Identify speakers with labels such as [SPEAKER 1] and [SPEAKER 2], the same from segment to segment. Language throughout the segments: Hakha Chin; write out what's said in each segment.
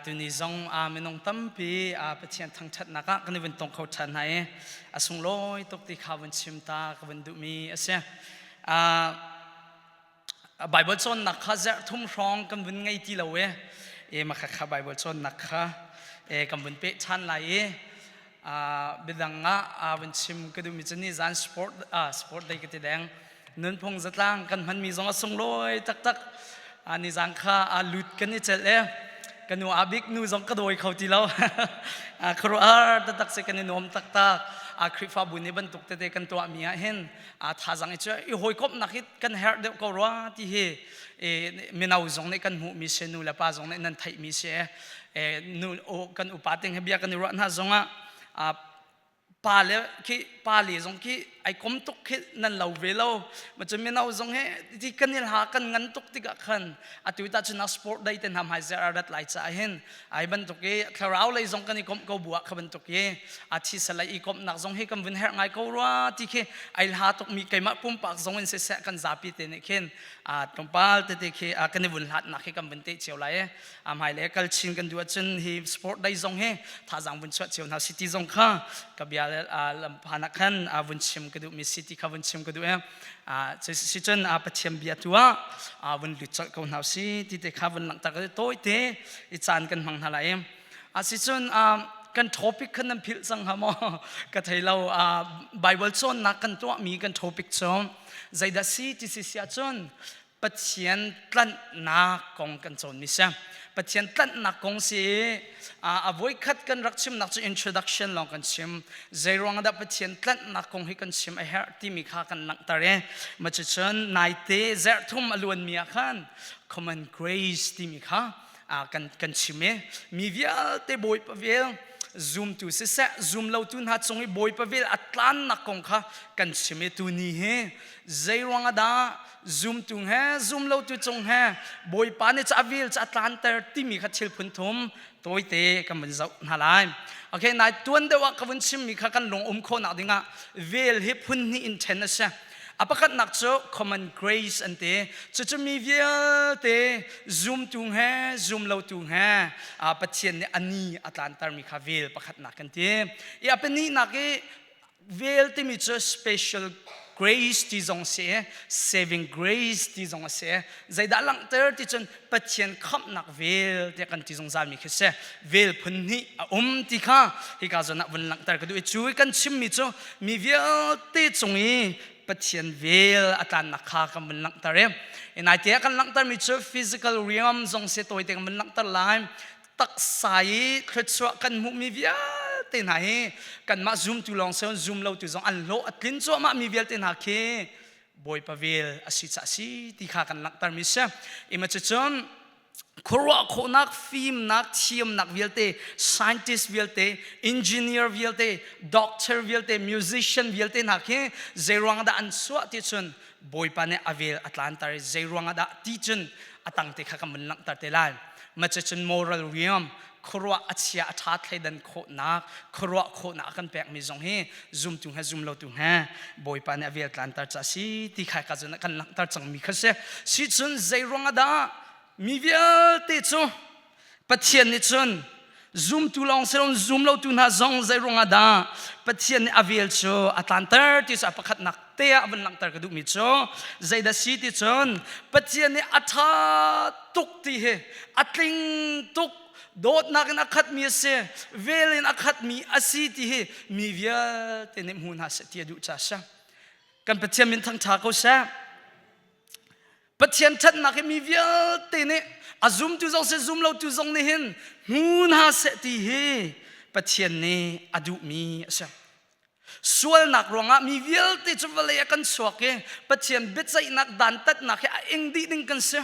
[SPEAKER 1] tuni zong minung tampi pathian thangṭhatnak ah kan i vun tong kho ṭhan hna i a sunglawi tuk ti kha vun chim ta ka vun duhmi a si Baibal cawnnak kha zarh thum hrawng kan vun ngei ti lo i maka kha Baibal cawnnak kha kan vun peh ṭhan lai i midang ah vun chim ka duhmi cu nizan sport sport day ka ti deng nunphung zatlang kan hmanmi zong a sunglawi taktak nizan kha lut kan i celh e ka nu a bik nu zong ka dawi kho ti lo khuaruahhar taktak se kan i nuam taktak a khrihfabu ni bantuk tete kan tuahmi ah hin a thazang i cu i hawikomhnak hi kan herh deuh ko rua ti hi mino zong nih kan hmuhmi si nu le pa zong nih nan theihmi si kan upa te he bia kan i ruah hna zongah pa le khi pa le zong khi ai kom tuk khi nan lo ve lo ma cu mino zong he ti kan il ha kan ngan tuk tikah khan atu ta chu nak sport dai te nam hai zer arat lai cha hin ai bantuk i thlarau lei zong kan i kom ko bua kha bantuk i a thi salai i kom nak zong hi kan vun her ngai ko rwa ti khi ai ha tuk mi keimah pum pak zong in se se kan zapi te ne khin a tompal te te khi kan i vun hlat nak hi kan vun te chiau lai a hmailei kal chin kan duh ahcun hi sport day zong hi thazang vun chuah cio hna city zong kha ka bia lamphan ah khan vun chim ka duh mi city kha vun chim ka duh e si cun pathian bia tu ah vun lut colh ko hna si ti te kha vun langtak tawite i caan kan hmang hna lai a si cun kan topic khan nan philh cang ha maw ka thei lo bible cawnnak kan tuah mi kan topic cu zeidah si ti si si ahcun Pathian tlanhnak kong kan cawnmi si. Pathian tlanhnak kong si a voikhat kan rak chimnak cu introduction lawng kan chim. Zeiruang dah Pathian tlanhnak kong hi kan chim a herh timi kha kan langhter i macucun naite zarhthum a luanmi ah khan common grace timi kha kan kan chim i mi vialte Bawipa vel zumtu siseh zum lotu hna cung i Bawipa vel a tlannak kong kha kan chim i tuni hi zei ruang dah zumtu he zum lotu cung he bawipa nih ca vil ca tlanter timi kha thil phunthum tawite kan vun zoh hna lai ok nai tuan deuh ah ka vun chimmi kha kan lung um khawhnak dingah vel hi phun hnih in ṭhen a si a pakatnak cu common grace an ti cucu mi vialte zumtu he zumlotu he pathian nih ani a tlantermi kha vel pakhatnak kan ti i a pahnih nak i vel timi cu special grace ti zong si saving grace ti zong a si zeidah langhter ti cun pathian khamhnak vel tiah kan ti zungzal mi khi si vel phun hnih a um ti kha hi ka zon ah vun langhter ka duh i cu i kan chimmi cu mi vialte cung i pathian vel a tlannak kha kan vun langhter i naite ah kan langhtermi cu physical realm zong si tawite kan vun langhter lai taksa i thluachuah kan hmuhmi vialte hna hi kanmah zumtu lawng si zum lotu zong an hlawh a tlin cuahmah mi vialte hna khi bawipa vel a si ca si ti kha kan langhter mi si ima cu cun khuaruah khawhnak fimnak thiamnak vialte scientist vialte engineer vialte doctor vialte musician vialte hna khi zeiruang dah an suah ti cun bawipa nih a vel a tlanter zei ruangah dah ti cun a tangte kha ka mun langhter te lai macacun moral riam khuaruah a chia a ṭha thleidan khawhnak khuaruah khawhnak a kan pekmi zong hi zumtu he zumlotu he bawipa nih a vel tlanter ca si ti kha ka cun kan langhter cangmi kha si si cun zei ruangah dah mi vialte cu Pathian nih cun zumtu lawng si loin zum lotu hna zong zei ruangah dah Pathian nih a vel cu a tlanter ti cu a pakhatnak te ah a vun langhter ka duhmi cu zeidah si ti cun Pathian nih a ṭha tuk ti hi a tling tuk dawtnak in a khatmi a si vel in a khatmi a si ti hi mi vialte nih hmu hna seh ti a duh ca a si kan Pathian min thangṭha ko seh Pathian ṭhatnak hi mi vialte nih a zumtu zong si zum lotu zong nih hin hmu hna seh ti hi Pathian nih a duhmi a si. Sualnak ruangah mi vialte cu vawlei a kan suak i Pathian biaceihnak dantatnak hi a ing dih ding kan si.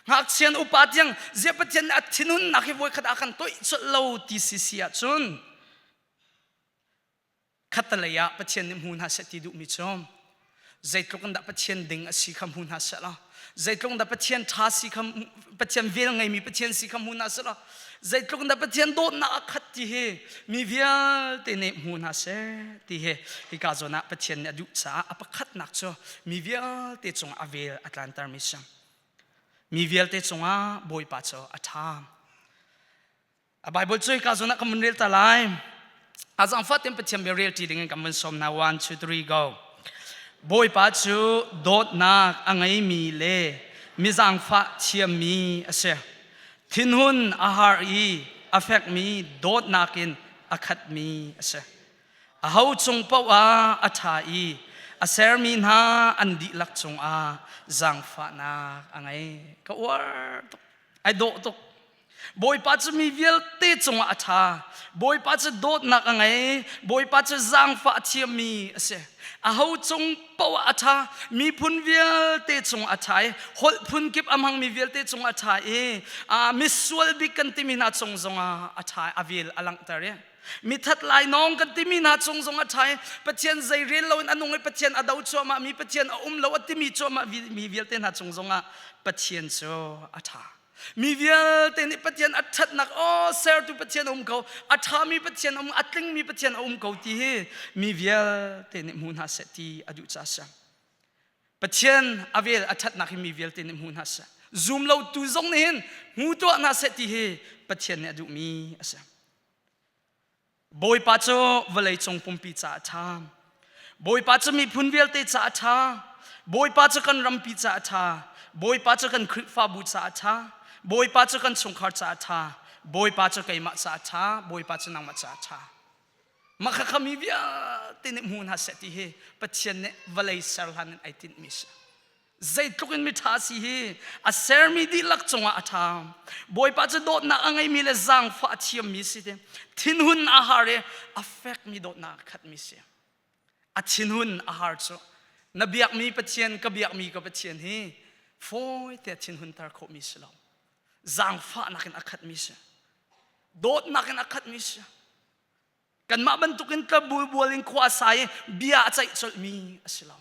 [SPEAKER 1] Ngakchian upa tiang ziah Pathian nih a thinhunnak hi voikhat a kan toih colh lo ti si si ahcun khatalei ah Pathian nih hmu hna seh ti duhmi cu zeitluk in dah Pathian ding a si kha hmu hna seh law zeitluk in dah Pathian ṭha si kha Pathian vel ngeimi Pathian si kha hmu hna seh law zeitluk in dah Pathian dawtnak a khat ti hi mi vialte nih hmu hna seh ti hi hika zawn ah Pathian nih a duh caah a pakhatnak cu mi vialte cungah a vel a tlantermi si mi vialte cungah Bawipa cu a ṭha a bible cuai ka zon ah kan mun rel ta lai a zang fatin pathian be rel ti ding in kan mun som na 1 2 3 go bawipa cu dawtnak a ngei mi le mizang fa thiam mi a si thinhun a har i a fek mi dawtnak in a khat mi a si a ho chung paoh ah a ṭha i a ser mi hna an dihlak cung ah zangfahnak a ngei ka uar tuk ai dawh tuk Bawipa cu mi vialte cungah a ṭha. Bawipa cu dawtnak a ngei. Bawipa cu zaangfah a thiammi a si. Aho cung paoh ah a ṭha. Miphun vialte cungah a ṭha i holh phun kip a hmangmi vialte cungah a ṭha i misual bik kan timi hna cung zongah a ṭha. A vel a langhter i mithat lainawng kan timi hna cung zongah a ṭha i Pathian zei rel loin a nung i Pathian a do cuahmah mi Pathian a um lo a timi cuahmah mi vialte hna cung zongah Pathian cu a ṭha. Mi vialte nih Pathian a ṭhatnak aw sertu Pathian a um ko a ṭhami Pathian a um a tlingmi Pathian a um ko ti hi mi vialte nih hmu hna seh ti a duh ca siang Pathian a vel a ṭhatnak hi mi vialte nih hmu hna seh zum lotu zong nih hin hmu tuah hna seh ti hi Pathian nih a duhmi a si Bawipa cu vawleicung pumpi ca a ṭha. Bawipa cu miphun vialte ca a ṭha. Bawipa cu kan rampi ca a ṭha. Bawipa cu kan Khrihfabu ca a ṭha. Bawipa cu kan chungkhar ca a ṭha. Bawipa cu keimah ca a ṭha. Bawipa cu nangmah ca a ṭha. Mah kha mi vialte nih hmu hna seh ti hi Pathian nih vawlei ser hlan in ai tinhmi a si. zeitluk in miṭha a si hi a sermi dihlak cungah a ṭha bawipa cu dawtnak a ngeimi le zaangfah a thiammi si ti thinhun a har i a fekmi dawtnak a khatmi si a thinhun a har cu na biakmi pathian ka biakmi ka pathian hi fawite thinhunter khawhmi si lo zaangfahnak in a khatmi si dawtnak in a khatmi si kanmah bantukin club bual in khua a sai i bia a ceih colhmi a si lo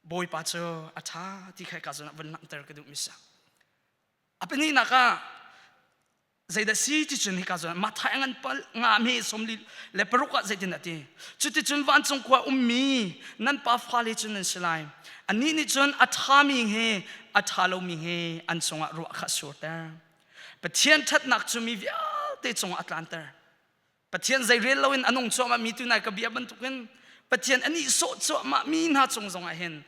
[SPEAKER 1] bawipa cu a ṭha ti kha ka zun vun langhter ka duhmi sa a pahninak ah zeidah si ti cun hika zun mathai ngan pal nga me somli le paruk ah zeitin ati cuti cun vancung khua ummi nan pa fale cun nan si lai anih nih cun a ṭhami he a ṭha lomi he an cungah ruah kha surter pathian ṭhatnak cu mi vialte cungah a tlanter Pathian zeirel loin a nung cuahmahmi tu nai ka bia bantukin Pathian a sawh cuahmahmi hna cung zongah hin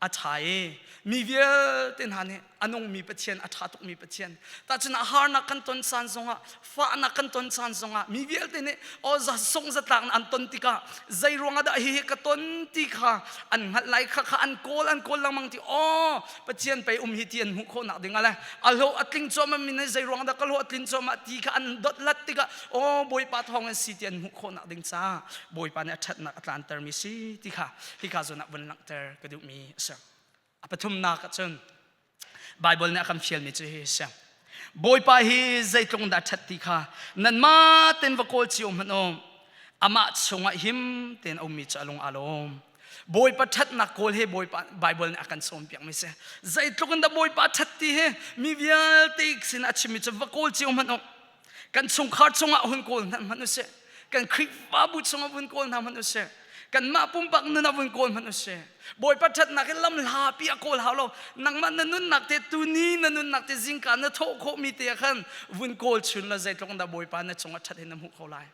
[SPEAKER 1] a ṭha i mi vialte hna nih a nungmi Pathian a ṭha tukmi Pathian tahcun a harnak kan ton caan zongah fahnak kan ton caan zongah mi vialte nih aw song zatlak an ton tikah zei ruangah dah hihi ka ton ti kha an hngalh lai kha kha an kawl an kawl lengmang ti aw Pathian pei um hi ti an hmuh khawh nak ding ale a lo a tling cuam min nei zei ruang dah ka lo a tlin cuam ti kha an dot lat tikah o bawipa thawng an si ti an hmuh khawh nak ding ca bawipa nih a that nak a tlan ter mi si ti kha ti kha zon ah vun lang ter ka duh mi a sang a pathum nak ah cun bible nih a kan fial mi cu hi sang bawipa hi zeitlung dah that ti kha nan ma ten va kawl cio hmanh o amah chungah him ten um mi cu alung alom Bawipa ṭhatnak kawl he Bawipa Baibal nih a kan sawmpiak mi si. Zeitluk in dah Bawipa ṭhat ti he mi vialte sin a chimmi cu va kawl cio hmanh u. Kan chungkhar chungah hun kawl hna hmanh u sih. Kan Khrihfabu chungah vun kawl hna hmanh u sih. Kanmah pumpak nun ah vun kawl hmanh u sih. Bawipa ṭhatnak in lam hlapi a kawl hau lo. Nangmah na nunnak te, tuni na nunnak te zingka na thawh khawhmi te ah khan vun kawl chun law zeitluk in dah Bawipa na cungah ṭhat he na hmuh ko lai.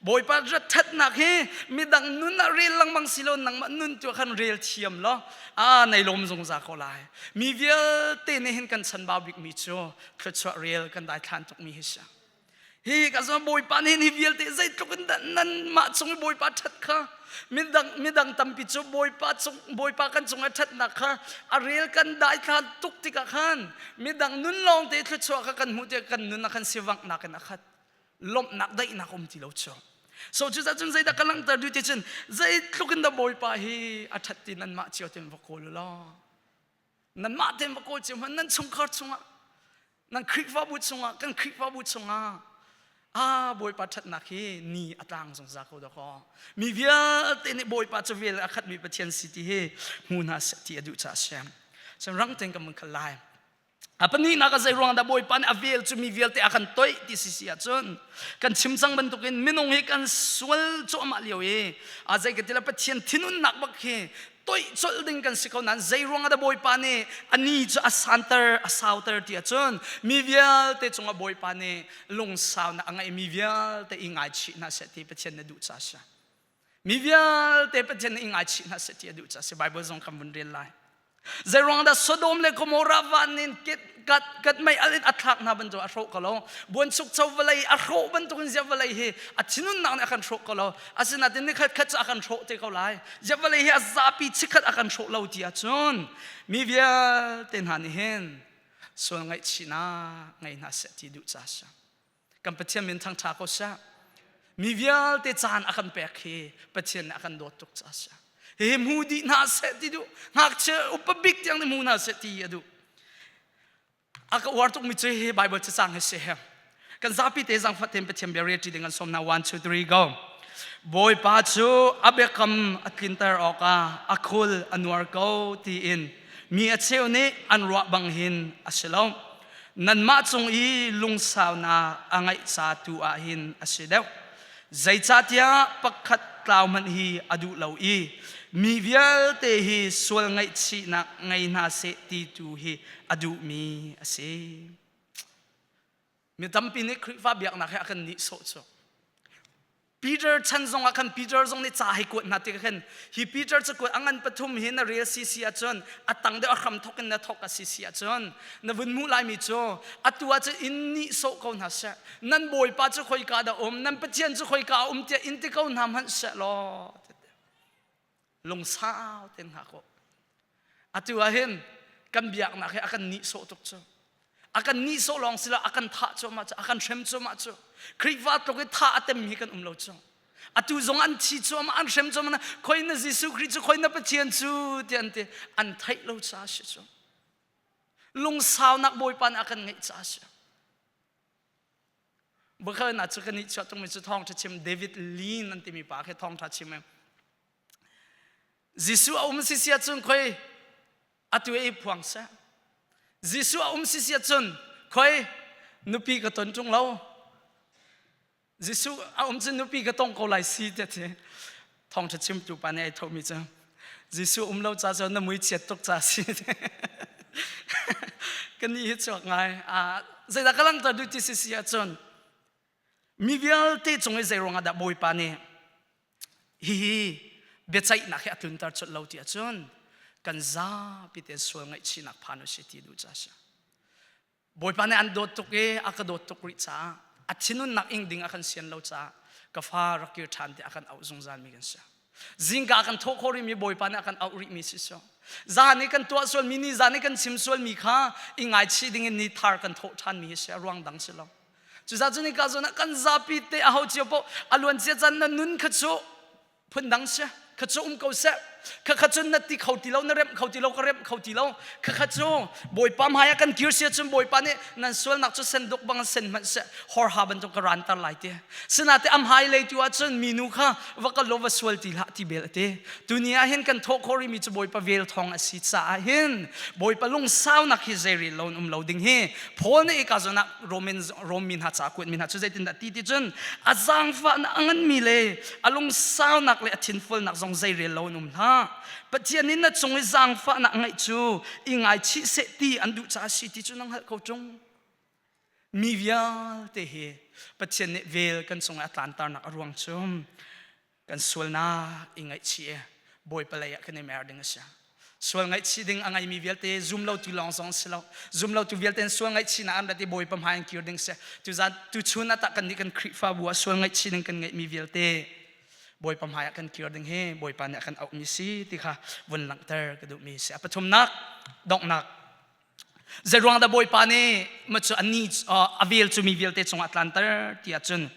[SPEAKER 1] Bawipa ṭhatnak hi midang nun ah rel lengmang si lo nangmah nun tu khan rel thiam law aa nei lom zungzal ko lai mi vialte nih hin kan chanbau bikmi cu thluachuah rel kan daithlan tukmi hi si hi ka zong bawipa nih hi vialte zeitluk in dah nan mah cung i bawipa ṭhat kha midang midang tampi cu bawipa cung bawipa kan cung a ṭhatnak kha a rel kan daithlan tuk tikah khan midang nun lawngte thluachuah kha kan hmuh tiah kan nun ah khan si wangnak in a khat lawmhnak daihnak um ti lo cu so cu cun zeidah ka langhter duh ti cun zeitluk in da bawipa hi a ṭhat ti nan mah cio tin va kawl u law nan mah tin va kawl cio hman nan chungkhar chungah nan khrihfabu chungah kan khrihfabu chungah a bawipa ṭhatnak hi ni a tlang zungzal ko dakaw mi vialte nih bawipa cu vel a khatmi pathian si ti hi hmu hna ti a duh ca a si rang ten ka mung khalai A pahnihnak a zeiruang dah Bawipa nih a vel cu mi vialte a kan toih ti si si ahcun kan chim cang bantukin minung hi kan sual cuahmah lio i a zei ka ti lo Pathian thinhunnak bak hi toih colh ding kan si ko nain zei ruang ah dah Bawipa nih a ni cu a santer a sauter ti ahcun mi vialte cungah Bawipa nih lungsaunak a ngeih mi vialte i ngaichih hna seh ti Pathian na duh ca a si. Mi vialte Pathian i ngaichih hna seh ti a duh caah si Bible zong kan vun rel lai. Zeiruang dah Sodom le Gomorrah van in kat kat mei a thlak hna bantuk a hrawh ko lo. Buanchuk cho vawlei a hrawh bantuk in ziah vawlei hi a thinunnak nih a kan hrawh ko lo. Asinain ni khat khat cu a kan hrawh te ko lai. Ziah vawlei hi a zapi chikkhat a kan hrawh lo ti ahcun mi vialte hna nih hin sual ngaihchihnak ngei hna seh ti duh caah si. kan pathian min thangtha ko sia mi vialte caan a kan pek hi pathian nih a kan dawt tuk ca sia hi mu di hna seh ti duh ngakchia upa bik tiang ni mu hna seh ti a duh a ka uar tuk mi cu hi bible cacang hi si he kan zapi te zang fatin pathian bia ti ding an som na 1 2 3 go bawipa cu a biakam a tlinter awk a a khul a nuar ko ti in mi a cheu nih an ruah bang hin a si lo nanmah cung i lungsaunak a ngeih ca tu ah hin a si deuh zeicahtiah pakhat tlau hmanh hi a duh lo i mi vialte hi sual ngaihchihnak ngei hna seh ti tu hi a duhmi a si mi tampi nih Khrihfa biaknak he a kan nihsawh cu Peter chan zong ah khan Peter zong nih ca hei kuat hna tikah khan hi Peter cu kuat a ngan pathum hi na rel si si ahcun a tang deuh a hram thawk in na thawk a si si ahcun na vun hmuh laimi cu atu ah cun in nihsawh ko hna seh nan bawipa cu khoika dah um nan pathian cu khoika a um tiah in ti ko hna hmanh seh law lungsau ten hna kaw atu ah hin kan biaknak hi a kan nihsawh tuk cu a kan nihsawh lawng si lo a kan thah cuahmah cu a kan hrem cuahmah cu Khrihfa tluk i thah a tem hi kan um lo cu atu zong an thi cuahmah an hrem cuahmah na khoi na Jesuh Khrih cu khoi na Pathian cu ti an ti an theih lo ca si cu lungsaunak bawipa nih a kan ngeih ca si Bakal na chu kan ni chuak tung mi chu thong tha chim David Lean an timi pa khe thong tha chim em Jesu a um si sia chun khoi atu e phuang sa Jesu a um si sia chun khoi nupi ka ton chung lo Jesu a um chu nupi ka tong ko lai si te te thawngṭha chimtu pa nih ai thohmi cu Jesuh um lo ca cu na mui chiat tuk ca si ka ni hi chuak ngai zeidah ka langhter duh ti si si ahcun mi vialte cung i zeiruang ahdah bawipa nih hihi biaceihnak hi a tlunter chulh lo ti ahcun kan zapi te sual ngaihchihnak phan u si ti duh ca si Bawipa nih an dawt tuk i a ka dawt tuk rih caah a thinhunnak ing ding a kan sian lo caah ka fa rak kir ṭhan ti a kan auh zungzalmi kan si. Zingka a kan thawh khawh rihmi Bawipa nih a kan auh rihmi si si. Zan i kan tuah sualmi ni zan i kan chim sualmi kha i ngaichih dingin ni thar kan thawh ṭhanmi si a ruang dang si lo. Cucaah cu nika zawn ah kan zapi te aho cio poh a luancia caan na nun kha cu phundang sia kha cu um ko seh kha kha cun na ti kho ti lo na remh kho ti lo ka remh kho ti lo kha kha cu bawipa hmaiah kan kir sia cun bawipa nih nan sualnak cu senduk bang sen hmanh seh horha bantuk ka rantar lai te sinate am hai lei tu ahcun minu kha va ka lo va sual ti hlah ti bel ate tuni ah hin kan thawh khori mi cu bawipa vel thong a si caah hin bawipa lungsaunak hi zei ril lo um lo ding hi phone i ka zonak Roman mi hna ca kuat mi hna cu zeitindah ti ti cun a zaangfahnak a nganmi le a lungsaunak le a thinfulnak zong zeirel lo an um hna Pathian in na cung i zaangfahnak a ngeih cu i ngaichih seh ti an duh caah si ti cu na hngalh ko ṭung mi vialte hi Pathian nih vel kan cung i a tlantarnak a ruang cu kan sualnak i ngaihchih i bawipa lei ah kan i mer ding a si sual ngaihchih ding a ngeimi vialte zum lo tu lawng zong si lo zum lo tu vialte in sual ngaihchihnak an rat i bawipa hmai in kir ding si tu zan tu chun atah kan nih kan khrihfabu ah sual ngaihchih ding kan ngeihmi vialte bawipa hmai ah kan kir ding hi bawipa nih a kan auhmi si ti kha vun langhter ka duhmi si a pathumnak donghnak Zeruang da Bawipa nih ma cu ani a vel cu mi vialte cungah tlanter tiah cun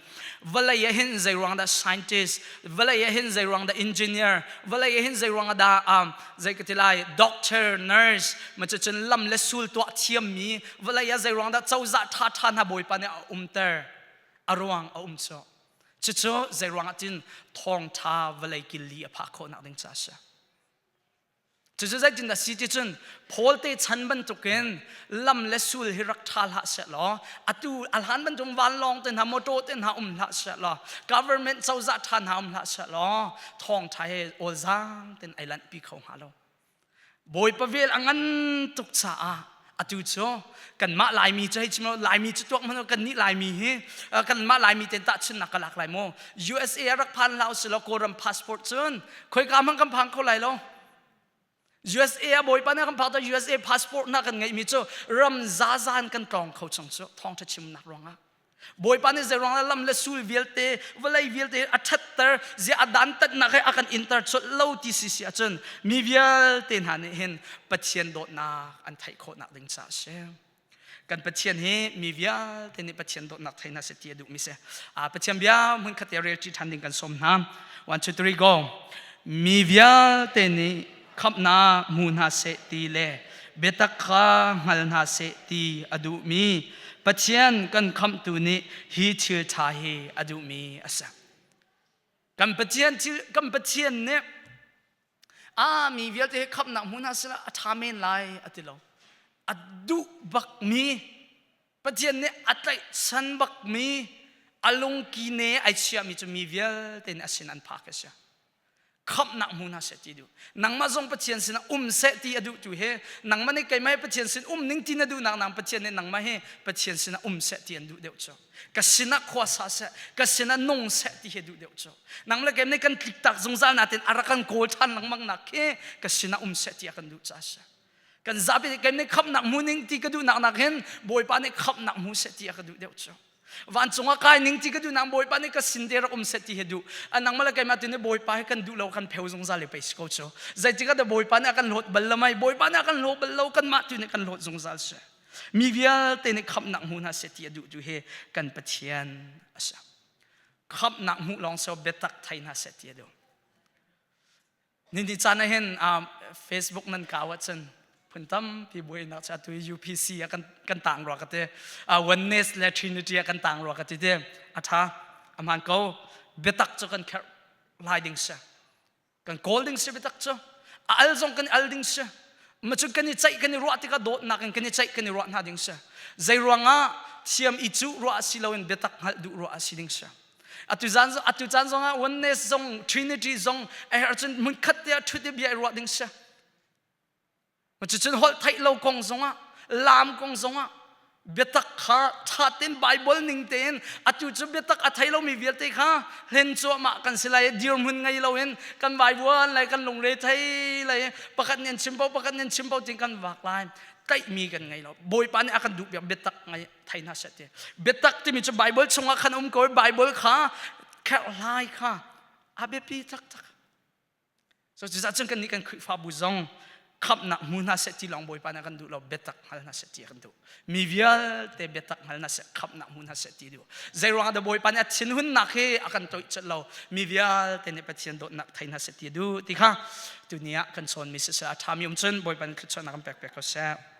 [SPEAKER 1] vawlei ah hin zeiruang dah scientist vawlei ah hin zeiruang dah engineer vawlei ah hin zeiruang dah um zei ka ti lai doctor nurse ma cu cun lam le sul tuah thiammi vawlei ah zeiruang dah cozah ṭha ṭha hna Bawipa nih a umter a ruang a um cu cucu zeiruang ah tin thawngṭha vawlei kil li a phak khawhnak ding ca a si Cucu zeitin a si ti cun Paul te chan bantukin lam le sul hi rak ṭha hlah seh law atu a hlan bantuk vanlawng te hna mawṭaw te hna um hlah seh law government cozah ṭha hna um hlah seh law thawngṭha he awlzam tein ai lanhpi kho hnga lo. Bawipa vel a ngan tuk caah atu cu kanmah laimi cu hei chim law laimi cu tuak hmanh kannih laimi hi kanmah laimi ten tahchunnak ka lak lai maw usa ah rak phan hlah usilaw kawlram passport cun khoika hmang kan phang kho lai lo USA ah bawipa na kan phak ta USA passport na kan ngeihmi cu ram zazan kan tlawng kho chung cu thawngṭha chimnak ruangah Bawipa nih zeiruang ah lam le sul vialte vawlei vialte a ṭhatter zia a dantatnak he a kan inter colh lo ti si si ahcun mi vialte hna nih hin Pathian dawtnak an theih khawhnak ding caah a si. Kan Pathian hi mi vialte nih Pathian dawtnak theihna si ti a duhmi si. Pathian bia hmun khat i relṭi ṭhan ding kan sawm hna. One, two, three, go. Mi vialte nih khamhnak hmu hna seh ti le biatak kha hngal hna seh ti a duhmi Pathian kan khamhtu nih hi thil ṭha hi a duhmi a si. Kan Pathian kan Pathian nih a mi vialte hi khamhnak hmu hna sila a ṭha men lai a ti lo. A duh bakmi Pathian nih a tlaihchan bakmi a lungkine ai chiahmi cu mi vialte nih a sin an phak a si. Khamhnak hmu hna seh ti duh. Nangmah zong Pathian sinah um seh ti a duh tu hi nangmah nih keimah keimah sin um ning ti na duhnak nang Pathian nih nangmah hi Pathian sinah um seh ti an duh deuh cu. Ka sinah khua sa seh, ka sinah nung seh ti hi duh deuh cu. Nangmah le keimah nih kan tliktak zungzal natin a rak kan kawl ṭhan lengmang nak khi ka sinah um seh ti a kan duh caah a si. kan zapi kan nih khamnak mu ning ti ka duh nak nak hin bawipa nih khamnak mu se ti a ka duh deuh cu vancung a kai ning ti ka duh nak bawipa nih ka sin te rak um se ti he duh anang mala keima tu ni bawipa he kan duh lo kan pheu zungzal le peis ko chu zeitika da bawipa nih a kan lot bal lo mai bawipa nih a kan lo bal lo kan mah tu nih kan lot zungzal se mi vialte nih khamnak mu hna se ti a duh tu he kan pathian asa khamnak mu long so betak thai hna se ti a duh Nini caan ah hin Facebook nan kau ahcun phun tampi buainak cha tu UPC a kan kan tang rua ka te oneness le trinity a kan tang rua ka ti te a tha a man ko biatak cu kan kher lai ding si kan kawl ding si biatak cu a al zong kan al ding si ma cu kan i ceih kan i ruah tikah dawtnak in kan i ceih kan i ruah hna ding si zei ruangah thiam i cu ruah si loin biatak hngalh duh ruah si ding si Atu caan atu caan zongah oneness zong trinity zong a herh cun hmun khat te ah ṭhut i bia i ruah ding sia. Cucun holh theih lo kong zongah lam kong zongah biatak kha ṭha tein Bible ning tein atu cu biatak a thei lomi vialte kha hlen cuahmah kan si lai dirhmun ngei loin kan vaivuan lai kan lungre thei lai pakhat nih an chim paoh pakhat nih an chim paoh ti kan vak lai tlaihmi kan ngei lo bawipa nih a kan duh biak biatak ngei thei hna seh ti biatak timi cu baibal chungah khan um ko baibal kha kherhlai kha a biapi taktak so cucah cun kan nih kan khrihfabu zong khamnak hmu hna seh ti long bawipa na kan duh lo biatak hngal hna seh ti kan duh mi vialte biatak hngal hna seh khamnak hmu hna seh ti duh zei ruang ah bawipa nih a thin hunnak hi a kan toih chat lo mi vialte nih pathian dawtnak thei hna seh ti duh ti kha tu ni ah kan chawn mi siseh a ṭhami um cun bawipa nih thluachuahnak kan pek pek ko seh